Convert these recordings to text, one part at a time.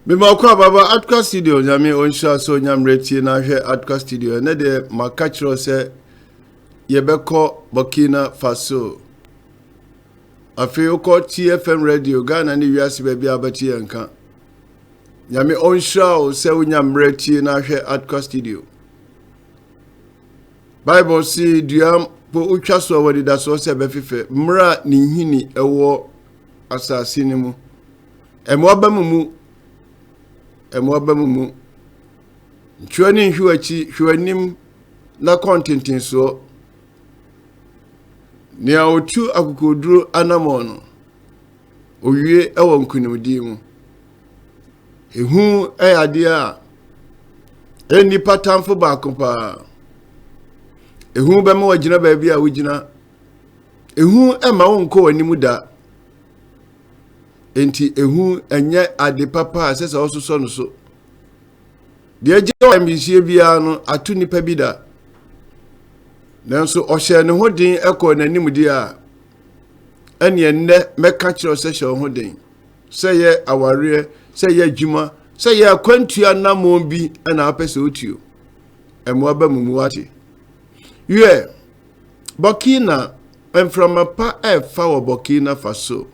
mebɔkɔ a baba adka studio nyame ɔnhyira so nyammerɛ tie no ahwɛ adka studio ɛnɛ deɛ maka kyerɛ sɛ yɛbɛkɔ burkina faso afei wokɔ tfm radio ghana ne wiase baabi a wobɛte yɛ nka nyame ɔnhyira wo sɛ wonya mmerɛ tie no ahwɛ adka studio bible se dua mpo wotwa so a wɔde da soɔ sɛ ɛbɛfefɛ mmerɛ a ne nhini ɛwɔ asase no mu ɛmoa ba mu mu ɛmoa ba mu mu ntwerɛ ne nhwe w'akyi hwɛ w'anim na kɔ ntentensoɔ nea ɔtu akokoduro anamɔ no owie wɔ nkonimdie mu. Ehu yɛ adeɛ a ɛyɛ nipa tamfo baako paa. Ehu bɛma wagyina baabi a wogyina. Ehu ma wonkɔ w'anim da. Enti ehu nyɛ ade papa a ɛsɛ sɛ ɔsosɔ no so. Deɛ agye ɔyamyesie biara no ato nipa bi da. Nanso ɔhyɛɛ ne ho den kɔɔ n'anim deɛ a ɛneɛ nnɛ mɛka kyerɛ sɛ hyɛ wo ho den sɛ yɛ awareɛ sɛ yɛ adwuma sɛ yɛ akwantua namɔ bi ɛna apɛ sɛ wotuo ɛmoa ba mu mu wate wiɛ bɔkina mframa pa ɛfa wɔ bɔkina fa so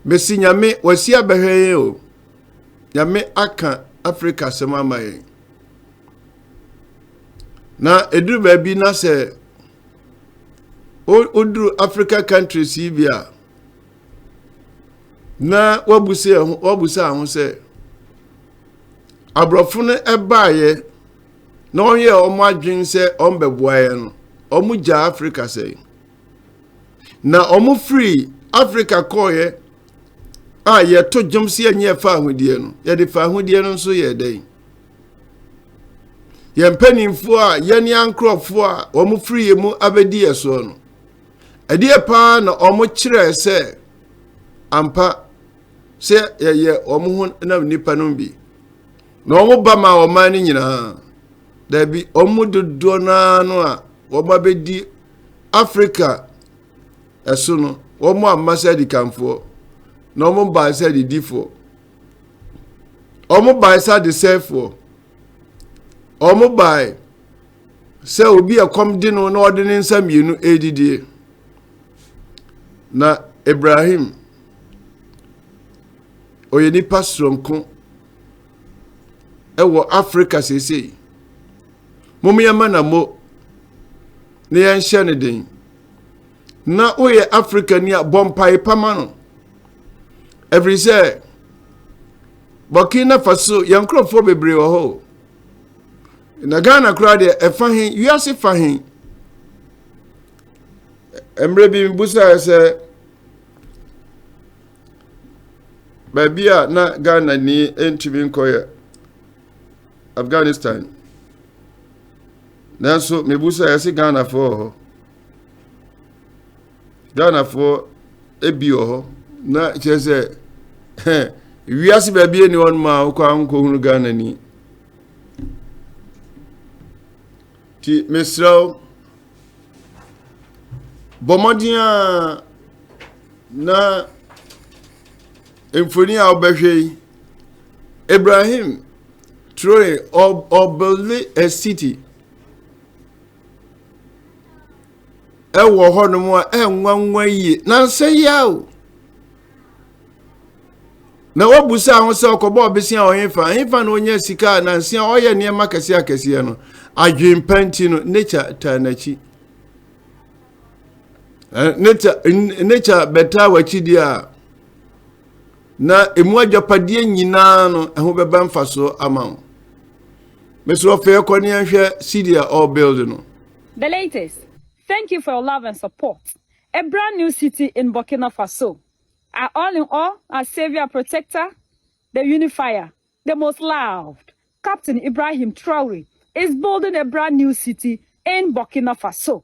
mesi nyame wasi abɛhwɛ yɛn o nyame aka afrika asɛm ama yɛn na ɛduru baabi na sɛ woduru africa countries yi bi a na wabusa ho wabusa ho sɛ aborɔfo no ɛbaayɛ na wɔyɛ wɔn adwene sɛ wɔn bɛboa yɛn no wɔn gya africa sɛ na wɔn firi africa kɔɔyɛ a yɛto dwom si yɛnyɛ fa ahodeɛ no yɛde fa ahodeɛ no nso yɛ dɛn. yɛn mpanimfoɔ a yɛne ankorɔfoɔ a wɔfiri yɛn mu abɛdi yɛn soɔ no ɛdeɛ paa na wɔkyerɛɛ sɛ ampa sɛ yɛyɛ wɔn ho nam nnipa no bi na wɔn ba ma ɔman no nyinaa daabi wɔn mu dodoɔ no ara no a wɔn abɛdi afrika ɛso no wɔn amma sɛ adikanfoɔ na wɔn baa sɛ adidifoɔ wɔn bae sɛ adesɛefoɔ wɔn bae sɛ obi ɛkɔm de no na ɔde ne nsa mmienu ɛredidie na ibrahim ɔyɛ nipa soronko ɛwɔ africa seesei mommyɛma na mo na yɛnhyɛ no den na woyɛ afrikani a bɔ mpae pa ma no ɛfiri sɛ burkina faso yɛn nkurɔfoɔ bebree wɔ hɔ na ghana koraa deɛ ɛfa he wiase fa he mmerɛ bi mebusaɛ sɛ baabi a na ghana ni ntumi nkɔyɛ afghanistan nanso mebusaɛ sɛ ghanafoɔ wɔ hɔ ghanafoɔ ebi wɔ hɔ na kyerɛ sɛ wiase baabi ɛni hɔ nom a wokɔ ankɔhunu ghana ni nti mesrɛ wo bɔ mmɔden a na mfoni a wobɛhwɛ yi ibrahim traore ɔbɛle a city ɛwɔ hɔnom a ɛnwanwa yie nansa yi a o na wobusa ho sɛ ɔkɔbɔ ɔbesia ɔhefa hefa na ɔnya sika a nansa ɔyɛ nneɛma kɛseɛ akɛseɛ no adwempa nti no nature taa n'akyi nature bɛtaa w'akyi deɛ a Na emu agyapadeɛ nyinaa no, ɛho bɛba mfasoɔ ama wo. Mesrɛ ɔfɛ yɛkɔ ne yɛnhwɛ city a ɔrebuild no. The latest Thank you for your love and support A brand new city in Burkina Faso Our all in all Our saviour and protector The unifier The most loved Captain Ibrahim Traore Is building a brand new city in Burkina Faso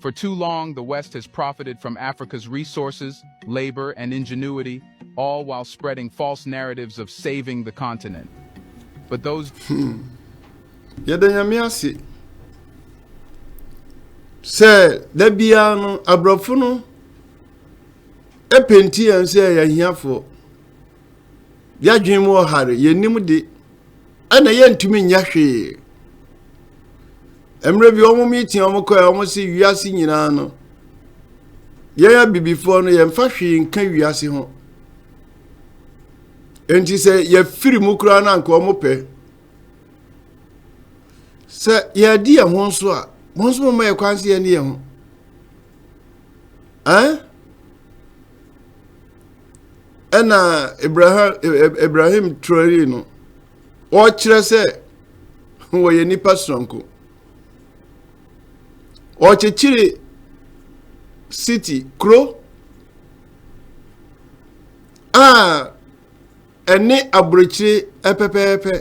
For too long, the West has profited from Africa's resources, labor, and ingenuity, all while spreading false narratives of saving the continent. But those. Hmm. Yɛda nyame ase sɛ da biara no aborɔfo no ɛpenti yɛn sɛ yɛn ahiafoɔ. Yɛadwene mu ɔhare, yɛnnim de, ɛna yɛntumi nyɛ hwee. Mmerɛ bi wɔn meeting wɔn kɔɛ wɔn se wiase nyinaa no, yɛn abibifoɔ no yɛmfa hwee nka wiase ho. Enti sɛ yɛfiri mu koraa no anka wɔn pɛ. Sɛ yɛadi yɛn ho nso a, wɔn nso moma yɛ kwan sɛ yɛne yɛn ho. Eh? ɛna ibrahim traore no ɔkyerɛ sɛ wɔyɛ nipa soronko ɔkyekyere city kuro a ɛne aburokyire pɛpɛɛpɛ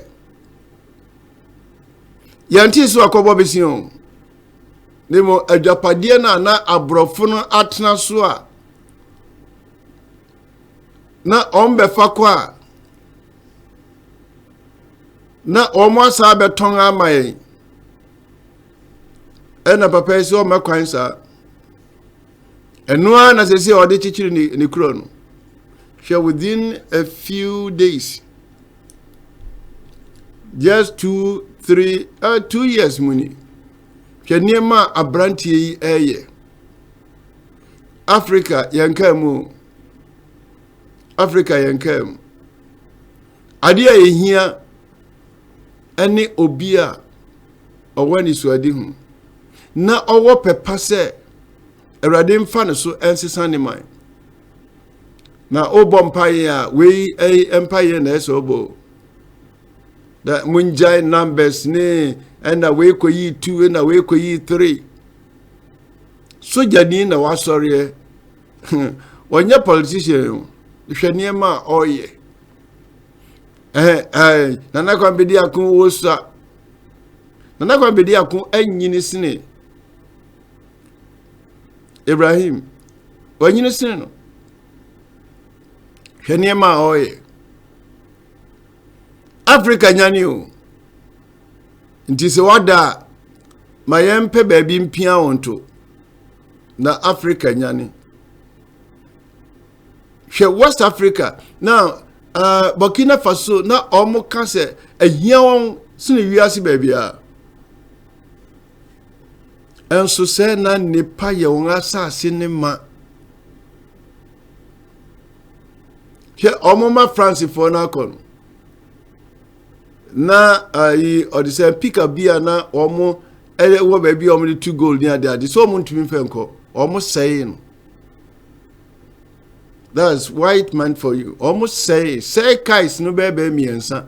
yɛnte so akɔbɔ bɛsi o ne mu adwapadeɛ no a na aborɔfo no atena so a na wɔn bɛfa kɔ a na wɔn asa abɛtɔn ama yɛn ɛna papa yi sɛ ɔmɛ kwan saa ɛno ara na sɛ sɛ ɔde kyekyere ne ne kuro no hwɛ within a few days just two three uh, two years mu ni hwɛ nneɛma a aberanteɛ yi ɛreyɛ. africa yɛn kaa mu africa yɛn kaa mu adeɛ a yɛhia ne obi a ɔwɔ anisoadi ho na ɔwɔ pɛpa sɛ awurade mfa ne so nsesa ne man na wobɔ mpaeɛ a wei mpaeɛ na ɛsɛ ɔbɔ na mongyae numbers ne ɛna wei kɔyi two ɛna wei kɔyi three sogyani na wasɔreɛ ɔnyɛ politician o hwɛ nneɛma a ɔreyɛ ɛɛ ɛɛ nana kwan bɛdi ako wosa nana kwan bɛdi ako anyini sene ibrahim wanyini sene no hwɛ nneɛma a ɔreyɛ. africa nyane o nti sɛ wada a ma yɛmpɛ baabi mpia wo nto na africa nyane hwɛ west africa na uh, burkina faso na ɔmo ka sɛ ahia wɔn sene wiase baabiara Nso sɛ na nnipa yɛ wɔn asase ne ma. Hwɛ wɔn ma Francefoɔ no akɔ no. Na ayi ɔde sɛ pika bi a na wɔn ɛyɛ wɔ baabi a wɔn de tu gold ne ade ade so wɔn ntumi fɛ nkɔ wɔn sɛe no. That's white man for you. Wɔn sɛe sɛe kais no bɛɛ bɛɛ mmiɛnsa.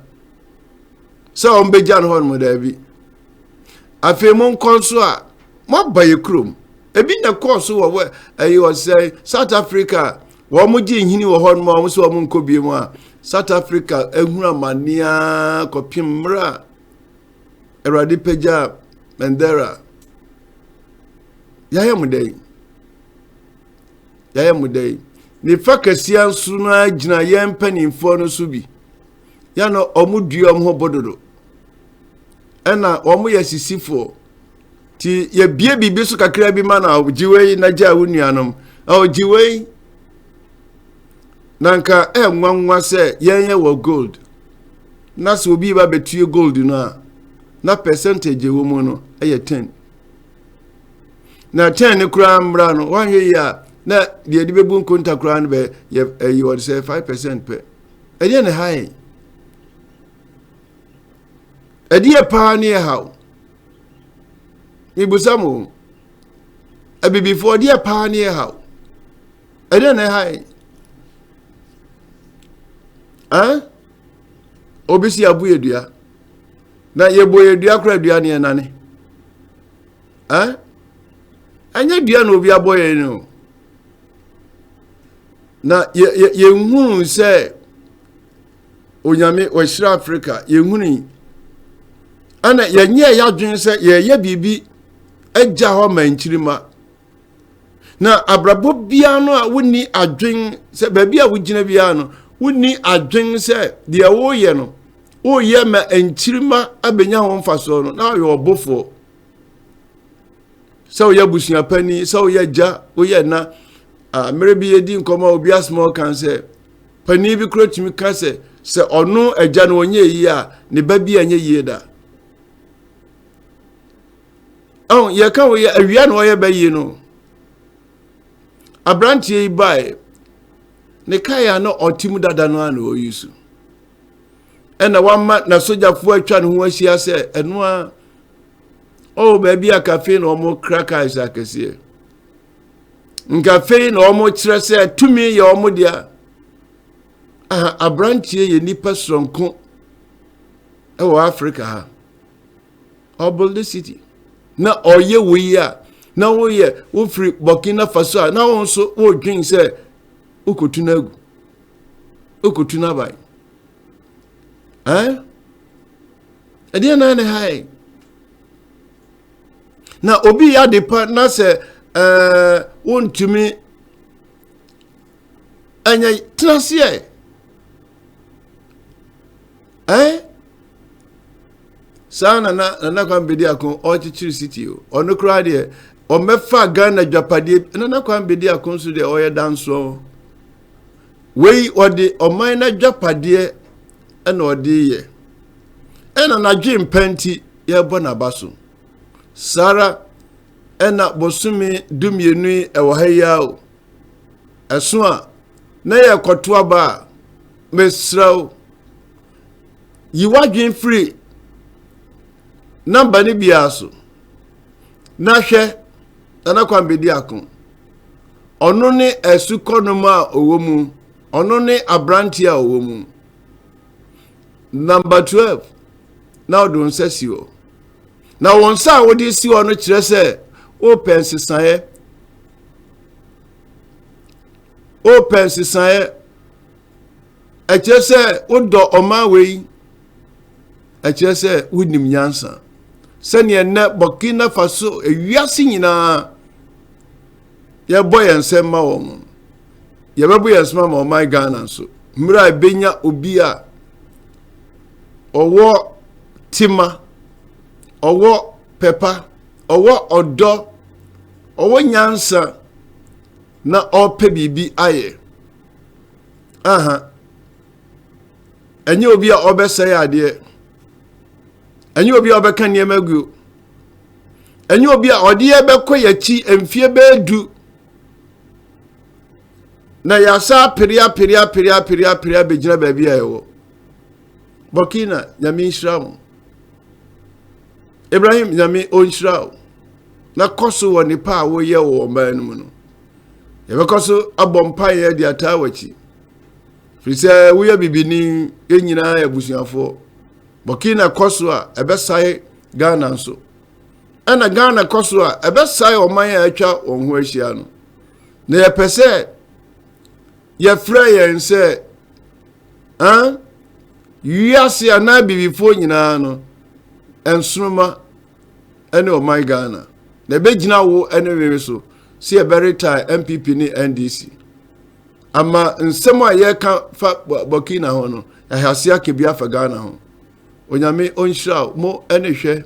sɛ wɔbɛgya no hɔnom daabi afei mo nkɔ nso a moaba yɛ kurom ebi na ɛkɔɔ so wɔ ɛyɛ ɔsɛe south africa wɔn gye nhini wɔ hɔnom a wɔn sɛ wɔn nkɔ bie mu a south africa ehunu amanea kɔpem mmerɛ a awurade pagya mandela yɛayɛ mo dɛn yɛayɛ mo dɛn ne fa kɛseɛ nso no ara gyina yɛn mpanimfoɔ no so bi yɛ no wɔn dua wɔn ho bododo ɛna wɔn yɛ sisifoɔ ti yɛbie biribi so kakra bi ma na ɔgye wei na gya wo nuanom ɔgye wei na nka ɛnwanwa sɛ yɛn yɛ wɔ gold na sɛ obi ba bɛtue gold no a na percentage wɔ mu no ɛyɛ ten na ten no koraa mmra no wɔnhwɛ yi a na deɛ de bɛbu nkonta koraa no bɛ yɛ ɛyi wɔde sɛ five percent pɛ. Ɛdeɛ na ɛha yɛn ɛdeɛ paa ne ɛha o mebusa mo abibifoɔ ɛdeɛ paa ne ɛha o ɛdeɛ na ɛha yɛn ɛn obi si abu yɛ dua na yɛbɔ yɛ dua kora dua ne ɛnane ɛn ɛnyɛ dua na obi abɔ yɛn no o. na yɛnhunu sɛ onyame wɔahyira afrika yɛnhunu yi ɛna yɛnyɛ yɛadwene sɛ yɛyɛ biribi agya hɔ ma nkyirima na abrabɔ biara no a wonni adwen sɛ baabi a wogyina biara no wonni adwen sɛ deɛ woyɛ no woyɛ ma nkyirima abɛnya ho mfasoɔ no na ɔyɛ ɔbofoɔ sɛ woyɛ abusua panyin sɛ woyɛ agya woyɛ ɛna mmerɛ bi yɛdi nkɔmmɔ a obi asoma ɔkan sɛ panyin bi kura tumi ka sɛ sɛ ɔno agya no ɔnyɛ yie a ne ba bi anyɛ yie da ɛho yɛka woyɛ awia na ɔyɛ bɛyie no aberanteɛ yi baeɛ ne kae a na ɔte mu dada no a na ɔyi so ɛna wama na sogyafoɔ atwa ne ho ahyia sɛ ɛno a oh baabi a kafei na wɔn kra cars akɛseɛ nkafei na wɔn kyerɛ sɛ tumi yɛ wɔn deɛ aha aberanteɛ yɛ nipa soronko ɛwɔ africa ha ɔbol the city na ɔyɛ wo yi a na woyɛ wofiri burkina faso a na wɔn nso wɔredwen sɛ wokotu no agu wokotu no aban ɛn. Eh? Ɛdeɛ na ne ha yɛn na obi yɛ ade pa na sɛ ɛɛ wontumi ɛnyɛ tena seɛ ɛɛ saa nana nana kwan bedi ako ɔkyekyere siti o ɔno koraa deɛ ɔmɛfa ghana dwapadeɛ nana kwan bedi ako nso deɛ ɔyɛ dansoɔ. Wei ɔde ɔman no adwapadeɛ na ɔde yɛ. Ɛna n'adwe mpa nti yɛrebɔ n'aba so. Saa ara ɛna bosome dumienu yi ɛwɔ ha yi o. Ɛso a na yɛrekɔto aba a mesrɛ wo yi w'adwene firi namba no biara so Na hwɛ, Nana Kwame Bedi Ako, ɔno ne asukɔnom a ɔwɔ mu, ɔno ne aberanteɛ a ɔwɔ mu. Namba 12, na ɔde nsa si hɔ. Na wɔn nsa a wɔde si hɔ no kyerɛ sɛ wopɛ nsesaeɛ. Wopɛ nsesaeɛ. ɛkyerɛ sɛ wodɔ ɔman wei ɛkyerɛ sɛ wonim nyansa sɛdeɛ nnɛ burkina faso ewiase nyinaa yɛbɔ yɛn nsɛm ma wɔn yɛbɛbɔ yɛn nsɛm ma ɔman ghana nso mmerɛ a ɛbɛnya obi a ɔwɔ tema ɔwɔ pɛpa ɔwɔ ɔdɔ ɔwɔ nyansa na ɔpɛ biribi ayɛ aha ɛnyɛ obi a ɔbɛsɛe adeɛ ɛnyɛ obi a ɔbɛka nneɛma guo ɛnyɛ obi a ɔde yɛ bɛkɔ yɛakyi mfie bɛɛ du na yɛasa apere apere apere apere apere abɛgyina baabi a yɛwɔ burkina nyame nhyira mo ibrahim nyame ɔnhyira wo na kɔ so wɔ nipa a woyɛ wɔ ɔman no mu no yɛbɛkɔ so abɔ mpaeɛ de ataa w'akyi firi sɛ woyɛ bibini yɛn nyinaa yɛ abusuafoɔ burkina kɔ so a ɛbɛsae ghana nso ɛna ghana kɔ so a ɛbɛsae ɔman a atwa wɔn ho ahyia no na yɛpɛ sɛ yɛfrɛ yɛn sɛ wiase anaa bibifoɔ nyinaa no nsoroma ne ɔman Ghana. Na ɛbɛgyina wo ne were so sɛ yɛbɛretae NPP ne NDC. Ama nsɛm a yɛreka fa Burkina ho no, yɛahyɛ ase aka bi afa Ghana ho. Onyame ɔnhyira wo mo ne hwɛ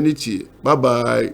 ne tie. Bye bye.